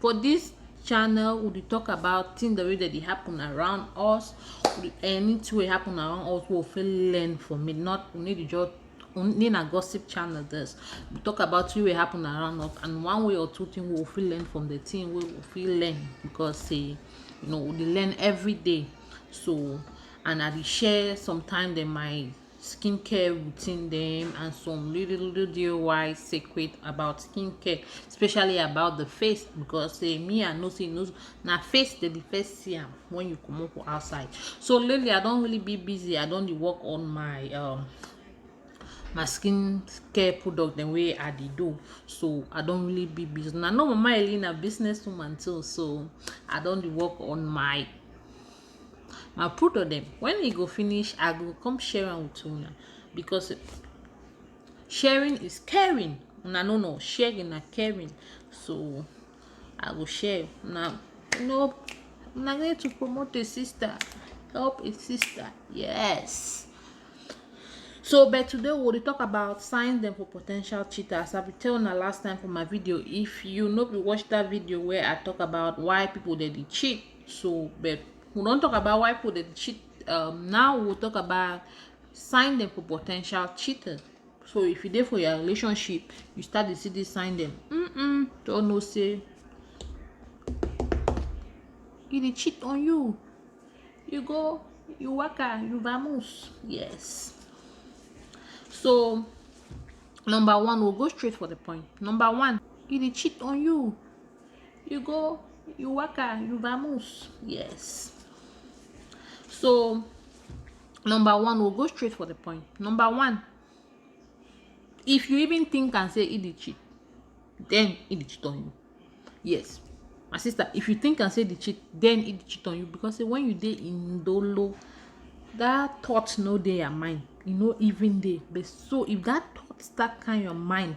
for this channel we dey talk about things that wey dey happen around us anything wey happen around us we fit learn from it not we need to just only na gossip channel this we talk about things wey happen around us and one way or two things we fit learn from the thing we fit learn because say you know we learn every day so and i dey share sometimes then my skincare routine dem and some little little DIY secret about skincare especially about the face because say me I know say no na face dey be first see am when you comot for outside so lately I don really be busy I don dey work on my um my skin care product dem wey I dey do so I don really be busy na no mama Ellie na business woman too so I don dey work on my I put on them. When e go finish, I go come share am with una because sharing is caring. Una no know sharing na caring. So I go share. Now, you know, una need to promote a sister, help a sister. Yes. So, but today we will talk about signs them for potential cheaters. I will tell una last time for my video. If you know, we watch that video where I talk about why people they cheat So, but we don't talk about why people they cheat. Um, now we'll talk about sign them for potential cheating. So if you there for your relationship, you start to see this sign them. Mm-mm, don't know say he dey cheat on you you go you waka you vamos yes so number one we'll go straight for the point number one he dey cheat on you you go you waka you vamoose yes so number one we'll go straight for the point number one if you even think and say e dey cheat then e dey cheat on you yes my sister if you think and say the cheat then e dey cheat on you because say when you dey in dolo that thought no dey your mind e no even dey but so if that thought start kind your mind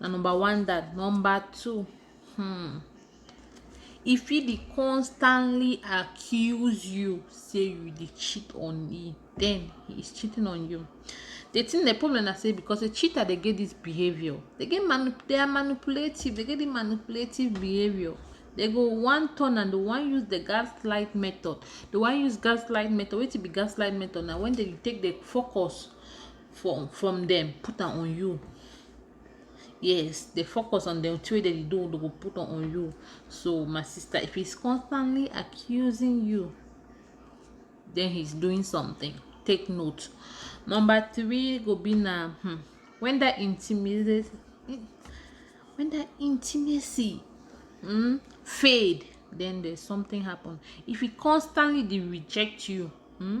na number one that number two hmm, e fit dey constantly accuse you say you dey cheat on e then he is cheating on you the thing the problem na say because the cheater dey get this behavior they get manu they are manipulative they get the manipulative behavior they go one turn and they wan use the gaslight method they wan use gaslight method wetin be gaslight method na when they take the focus from from them put am on you yes dey focus on the thing wey dem dey do dey go put am on you so my sister if he's constantly accusing you then he's doing something take note number three go be na hmm, when that intimacy when that intimacy hmm, fade then there's something happen if he constantly dey reject you hmm,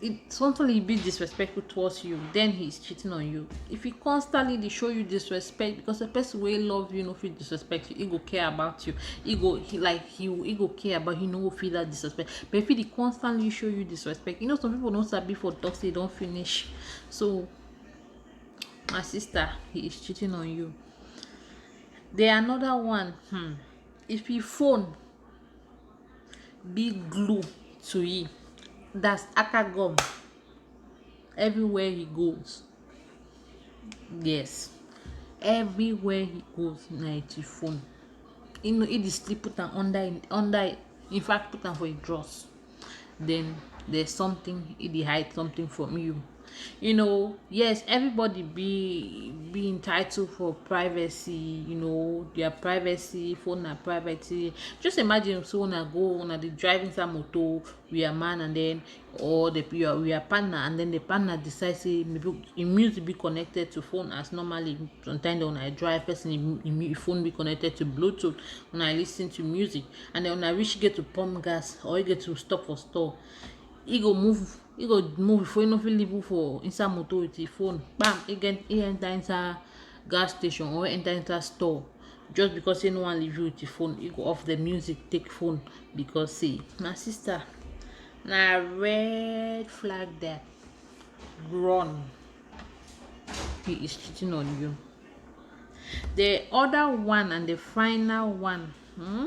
it's something he be disrespectful towards you then he's cheating on you if he constantly dey show you disrespect because the person wey love you no fit disrespect you he go care about you he go he like he he go care about you no go feel that disrespect but if he dey constantly show you disrespect you know some people no sabi for talk say don finish so my sister he is cheating on you then another one hmm, if he phone be glue to him that's aka gum everywhere he goes yes everywhere he goes na him the phone he no he dey still put am under him under him in fact put am for him drawers then there's something he dey hide something from you. you know yes everybody be be entitled for privacy you know their privacy phone na privacy just imagine say una go una dey drive inside motor with your man and then or the your with your partner and then the partner decide say im music be connected to phone as normally sometimes una dey drive person im im phone be connected to bluetooth una dey lis ten to music and then una reach get to pump gas or you get to stop for store e go move e go move before e no fit leave u for inside moto with him phone kpam e get e enter inside gas station or e enter inside store just because say e no wan leave u with him phone e go off the music take phone because say my sister na red flag there run he is cheating on you the other one and the final one hmm?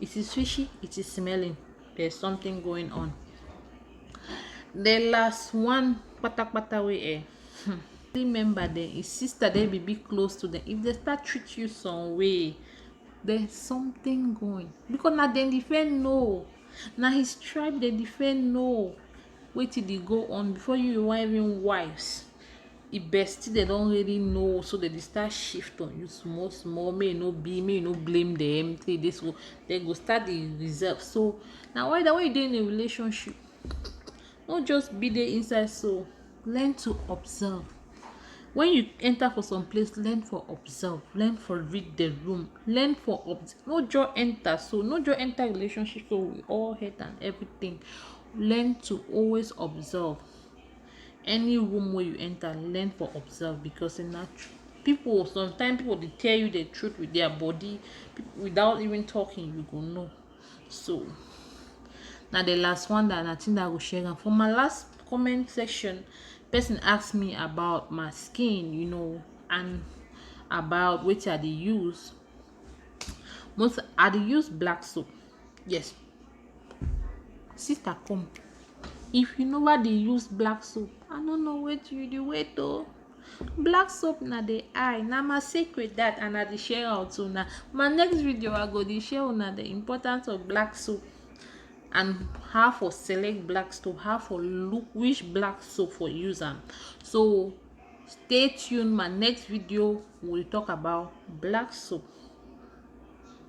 it is fishy it is smelling there's something going on the last one patapata we eh hmm, remember then his sister they be be close to them if they start treat you some way there's something going because now they defend no now his tribe they defend no wetin dey go on before you you wan even wise the bestie dem don already know so dem dey start shift on you small small make e no be make you no blame dem say you dey so dem go start dey reserve so na why that when you dey in a relationship no just be there inside so learn to observe when you enter for some place learn for observe learn for read the room learn for no just enter so no just enter relationship so with all head and everything learn to always observe any room wey you enter learn for observe because sey na pipu sometimes pipu dey tell you the truth with their body without even talking you go know so na the last one that I think that I go share am for my last comment section person ask me about my skin you know and about wetin I dey use most I dey use black soap yes sister come if you never dey use black soap i no know wetin you dey wait o black soap na the eye na my secret that and i dey share am with una my next video i go dey share una the importance of black soap and how for select black soap how for look which black soap for use am so stay tuned my next video we will talk about black soap